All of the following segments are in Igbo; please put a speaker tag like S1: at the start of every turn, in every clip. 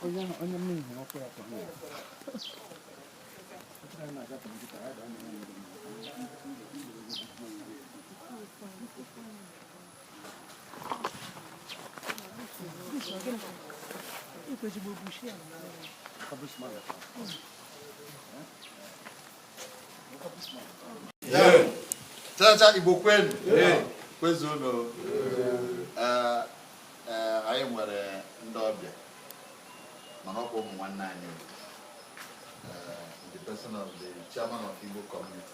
S1: onye onye m ihu ọkụ ya kwa mmiri Chacha Igbo kwenu kwezuonu anyị nwere ndị ọbịa mana ọ bụ ụmụ nwanne anyị the person of the chairman of Igbo community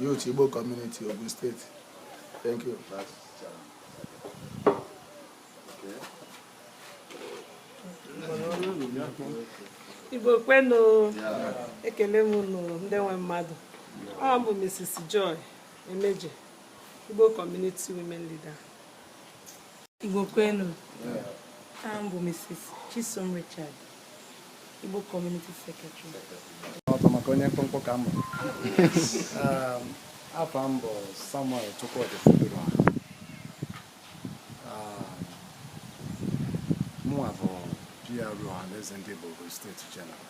S2: Youth Igbo Community Ogun State. Thank
S3: you. Igbo kwenu ekele m unu ndị nwe mmadụ aha m bụ Mrs. Joy Emeje Igbo Community Women Leader
S4: Igbo kwenu aha m bụ Mrs. Chisom Richard Igbo Community Secretary ọtọ maka onye
S2: mkpụmkpụ ka m bụ Um, afa m bụ Samuel Chukwudi Fubirwa mụnwa bụ PRO Ọhaneze ndị Igbo Ogun steeti General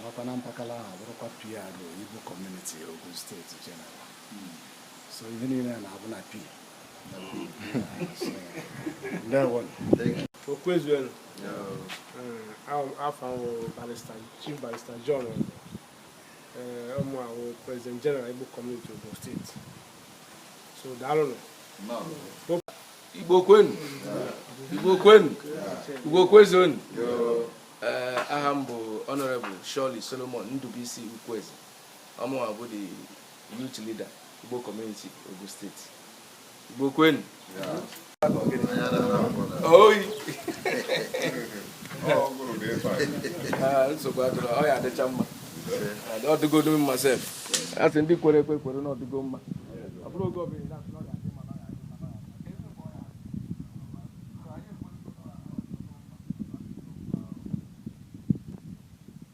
S2: nakwa na mpakala ahụ bụrụkwa PRO Igbo Community Ogun steeti General so ihe niile na-abụ na
S5: pi kwezuenu afa m bụ Barrister Chief Barrister John ọ mụwa bụ president general Igbo community Ogun steeti so daalụnụ
S6: Igbo kwenu Igbo kwenu Igbo kwezuonu aha m bụ honorable Shirley Solomon Ndubuisi Ukwueze Ọ mụwa bụ the youth leader Igbo community Ogun State. Igbo kwenu. Oyi. Ah, nsogbu adịrọ, ọ ya-adịcha mma. Ọ dịgodu mma sef. A sị ndị kwere ekwe kwere na ọ dịgo mma. Ọ bụrụ oge ọbụla ị na-asị na ọ ga-adị mma, na ọ ga-adị mma, na ọ ga-adị mma.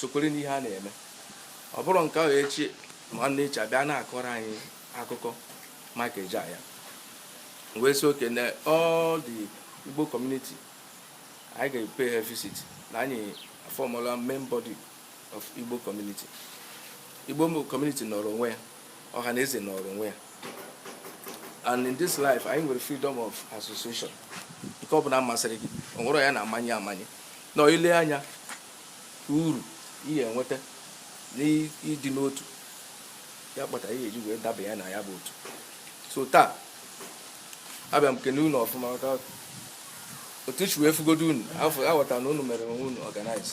S6: sokwere n'ihe a na-eme ọ bụrụ nke ahụ echi ma nwanne echi a bịa na-akọrọ anyị akụkọ maka eji ya wee sị okay na all the Igbo community anyị ga-pay ha visit na anyị aformụla main body of Igbo community. Igbo community nọrọ onwe ya, Ọhaneze nọrọ onwe ya. And in this life, anyị nwere freedom of association. Nke ọ bụla masịrị gị, o nwerọ onye a na-amanye amanye. Na ile anya uru ị ya-enweta n'ịdị n'otu ya kpata ihe eji wee daba ya na ya bụ otu. So taa, abịa m kene unu ọfụma maka otu esi wee fụgodu unu aghọtara na unu mere onwe unu organize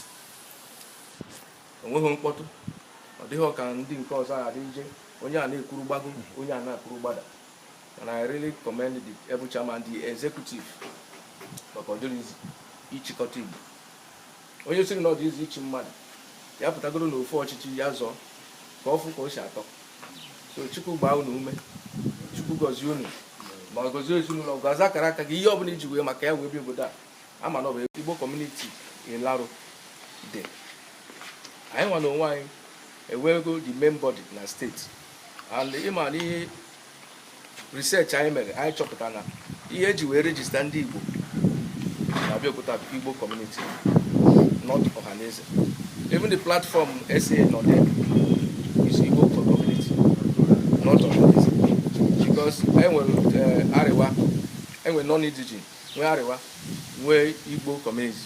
S6: onweghị mkpọtụ ọ dịghị ka ndị nke ọzọ a dị eje onye a na-ekwuru gbago onye a na-ekwuru gbada and I really commend the able chairman the executive maka ọ dịrọ easy ịchịkọta Igbo onye sịrị na ọ dị easy ịchị mmadụ ya pụtagodu na ofu ọchịchị ya zọọ ka ọ fụ ka o si atọ so chukwu gbaa unu ume chukwu gọzie unu ma gọzie ezinụlọ gọzie akara aka gị ihe ọbụla iji wee maka ya wee bi obodo a ama na ọ bụ Igbo community Ilaro dị anyị nwa na onwe anyị enwego the main body na state and ịma na ihe research anyị mere anyị chọpụta na ihe eji wee register ndị igbo na Abeokuta Igbo community not ọhaneze even the platform SA nọ there is Igbo community not ọhaneze because enwere eh, Arewa enwere non-indigene nwee Arewa nwee Igbo community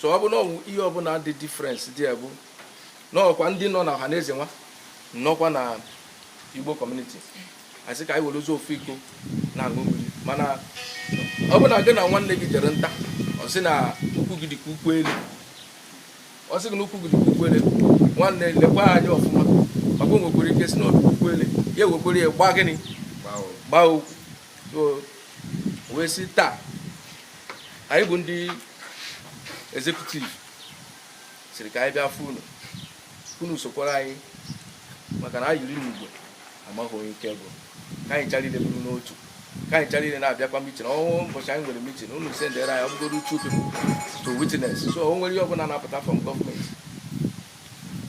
S6: so ọ bụ na ọwụ ihe ọbụla dị difference dị ya bụ n'ọkwa ndị nọ na ọhaneze nwa nọkwa na Igbo community asị ka anyị werezi ofu iko na-aṅụ mmiri mana ọ bụ na gị na nwanne gị jere nta ọ sị na ụkwụ gị dịka ụkwụ ele ọ sị gị na ụkwụ gị dịka ụkwụ ele nwanne lekwa anya ọfụma maka o nwekwara ike sị na ọ dịka ụkwụ ele ya ewekwere ya gbaa gịnị gbaa okwu wee sị taa anyị bụ ndị executive sịrị ka anyị bịa fụ unu unu sokwara anyị maka na anyị yiri n'ụgbọ amaghị onye ike gwụ ka anyị ncha niile bụrụ n'otu ka anyị ncha niile na-abịakwa meeting o nwee ụbọchị anyị nwere meeting unu sendere anyị ọ bụgodu two people to witness so o nwere ihe ọbụla na-apụta from government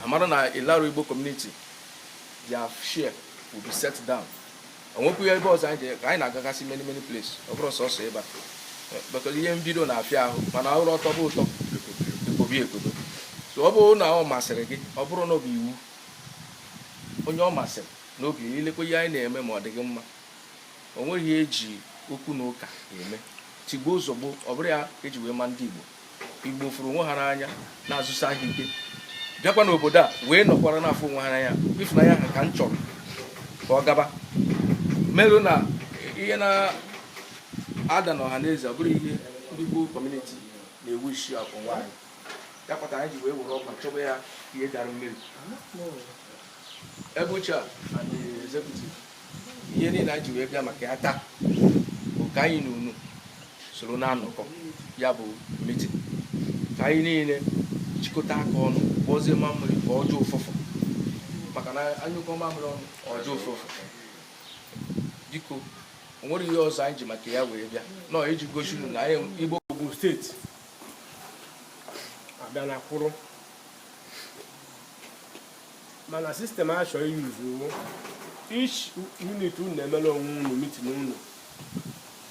S6: amara na Ilaro Igbo community their share will be set down o nwekwu ebe ọzọ anyị ji ka anyị na-agagasị many many place ọ bụrọ sọsọ ebe a because ihe mbido na-afịa ahụ mana o ruo ọ tọba ụtọ e kwobe ekworo so ọ bụrụ na ọ masịrị gị ọ bụrọ na ọ bụ iwu onye ọ masịrị n'obi ilekwa ihe anyị na-eme ma ọ dị gị mma o nweghị ihe eji okwu na ụka eme tigbuo zọgbuo ọ bụrọ ya eji wee ma ndị Igbo Igbo fụrụ onwe ha n'anya na-azụsi ahịa ike bịakwa n'obodo a wee nọkwara na-afụ onwe ha n'anya ịfụnanya ha ka m chọrọ ka ọ gaba merụ na ihe na-ada na Ọhaneze ọ bụrụ ihe ndị Igbo community na-ewu isi afọ nwaanyị ya kpatara anyị ji wee were ụkwụ chọba ya ihe dara mmiri ebe uche a and the executive ihe niile anyị ji wee bịa maka ya taa bụ ka anyị na unu soro na-anọkọ ya bụ meeting ka anyị niile jikọta aka ọnụ kpọzie mamịrị ka ọ gbọọ ụfụfụ maka na a nyụkọọ mamịrị ọnụ ọ gbọọ ụfụfụ biko o nwere ihe ọzọ anyị ji maka ya wee bịa nọ iji gosi unu na anyị igbo Ogun State
S5: abịana kwụrụ mana system a chọrọ i-use each unit unu na-emere onwe unu meeting unu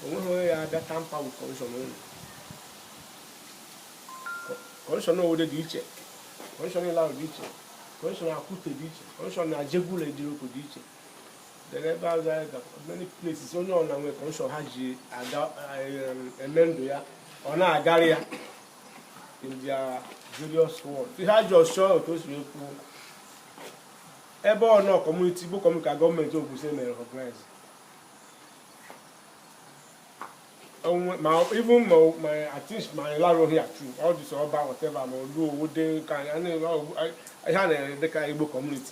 S5: o nweghị onye ya abịa tamper with constitution unu constitution Owode dị iche constitution Ilaro dị iche constitution Akute dị iche constitution na Ajegunle Idiroko dị iche then ebe ahụ ya ga many places onye ọna nwere constitution ha ji aga em, eme ndụ ya ọ na-agara ya in their various wards ihe a ji ọchọ otu o si ekwu ebe ọ nọ community Igbo community ka government Ogun mere recognize ma even ma ma atis ma Ilaro here too all these Oba whatever ma Olu Owu dị ka ihe a na-ede dịka Igbo community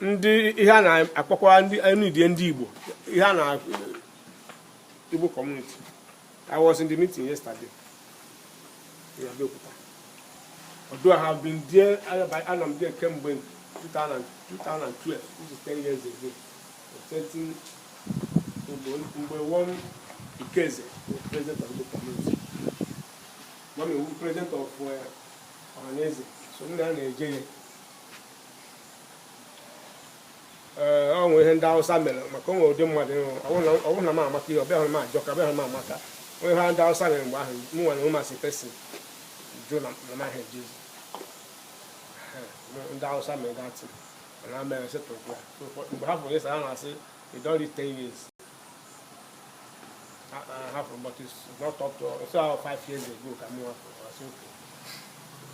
S5: ndị ihe a na-akpọkwa ndị non-indigene ndị Igbo ihe a na Igbo community I was in the meeting yesterday in Abeokuta although I have been there I am there kemgbe 2012 which is 10 years ago certain mgbe one Ikeze was president of Igbo community one president of uh, Ohaneze so ndị a na-eje ya ee ọ nwere ihe ndị awụsa mere maka o nwere ụdị mmadụ ịhụ ọwụ na m amaka ibe ya hụ na m ajọka ibe ya hụ na m amaka o nwe ihe ndị awụsa mere mgbe ahụ m nwere onwe masị pesi jụ na na m ahịa jezi ndị awụsa mere dirty na mere settle ya mgbe ha fụrụ ịsa ha na-asị you don reach ten years hapụrụ but it's not up to so five years ago ka m hapụrụ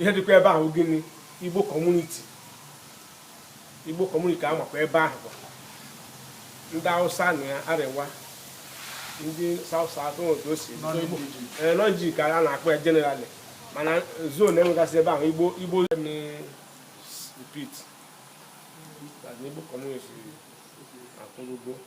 S5: ihe dịkwa ebe ahụ gịnị Igbo community Igbo community a makwa ebe ahụ bụ ndị hausa na ya Arewa ndị south south all these non-indigene ka a na-akpọ ya generally mana zone enwegasị ebe ahụ igbo igbo repeat Igbo community akwụrụgo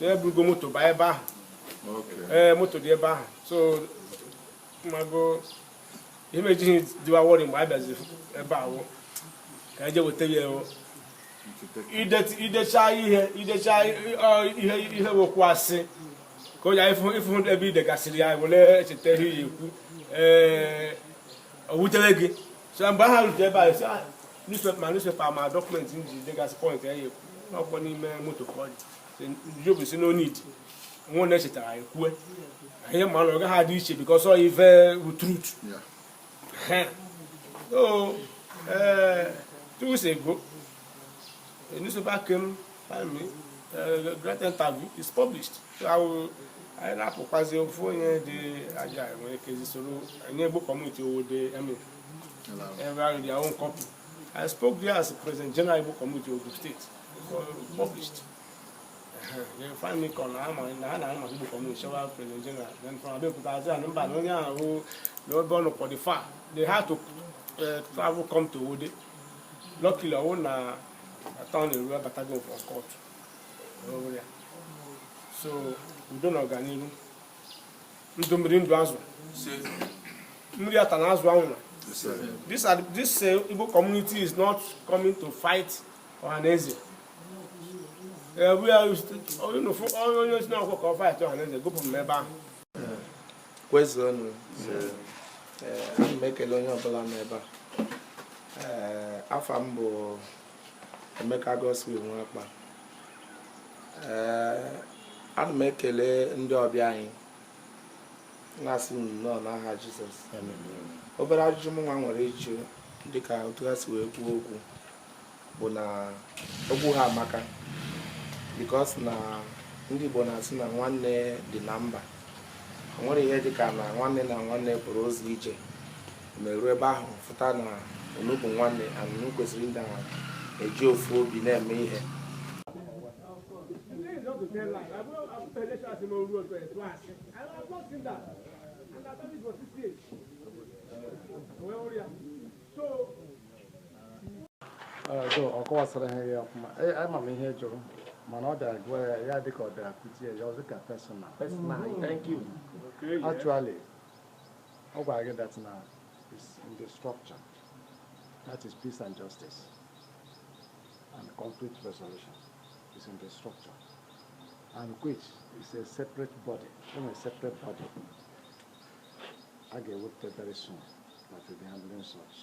S5: na-eburugo moto baa ebe ahụ ee moto dị ebe ahụ so mago ihe m ejighị dịwa worry mgbe a bịaziri ebe ahụ ka eje weta ya ewo idecha ihe idecha ihe ihe wokwu asị ka onye ị fụ ebe i degasịrị ya were echeta ihe ị ya-ekwu ee o wutere gị so mgbe ha rute ebe anyị si ah, newspaper ma newspaper ma document m ji degasị point m ya-ekwu ọ bụ n'ime moto ka ọ dị jobu sị no need nwa na echetara anyị kwue ihe ma na ọ gaghị adị iche because ọ wụ truth so ee eh, two weeks ago A newspaper came, find me, uh, great interview is published. So I will, anyị na-apụkwazi ofu onye dị aja nwere ike zisoro anyị Igbo community Owode emi ebe ahụ dị ahụ copy I spoke there as president general Igbo community of the state for published they find me kọ na ama na ha na-ahụ maka Igbo community shawa president general then from Abeokuta azi anụ mba na onye ahụ na ebe ọ nọ ọ dị far they had to uh, travel come to Owode luckily ọ wụ na atọnị ruo abatago m from court ọ wụrụ ya so udo na ọganihu ndụ mmiri ndụ azụ mmiri atana azụ anwụna this are this uh, Igbo community is not coming to fight Ohaneze uh, we are onye onye sị na ọ wụ ka ọ fight Ohaneze gụpụ m ebe ahụ
S6: kwezuonụ ana m ekele onye ọbụla nọ ebe a afa m bụ Emeka Godswill Nwakpa ana m ekele ndị ọbịa anyị na-asị nnọọ n'aha Jizọs obere ajụjụ m nwa nwere ịjụ dịka otu ha si wee kwuo okwu bụ na okwu ha amaka because na ndị Igbo na-asị na nwanne dị na mba o nwere ihe dịka na nwanne na nwanne pụrụ ụzọ ije meruo ebe ahụ fụta na unu bụ nwanne and unu kwesịrị ndị ahụ eji ofu obi na-eme ihe
S7: Thank you. ọ kọwasịrị ihe a ọfụma ama m ihe ị jụrụ mana ọ bịara gwa ya ya dịka ọ bịara kụzie ya ọzọ ka personal personal mm. thank you actually ọ gwara gị that na is in the structure that is peace and justice and conflict resolution is in the structure and which is a separate body, a separate body. a ga-ewepụta very soon that will be handling such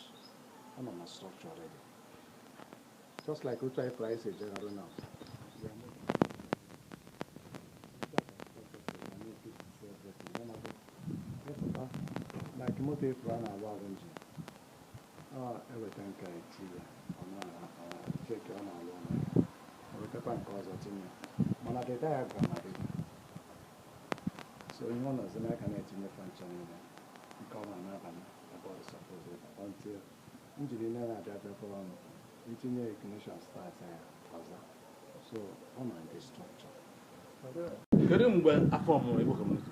S7: ọ nọ na structure already just like otu anyị price ejegharụ now like moto efu a na-agba agba engine eweta nke a etinye ọ na-cheki ọ na-alụ ọlụ ewetakwa nke ọzọ tinye mana the diagram adịghị so ihe ọ nọzi n'aka na-etinye function niile nke ọma na-aba ebe ọ suppose ịba until engine niile na-abịa bịakọrọ ọnụ itinye ignition start ya ọzọ so ọ ma ndị structure kedu mgbe a formụrụ igbo kọmuniti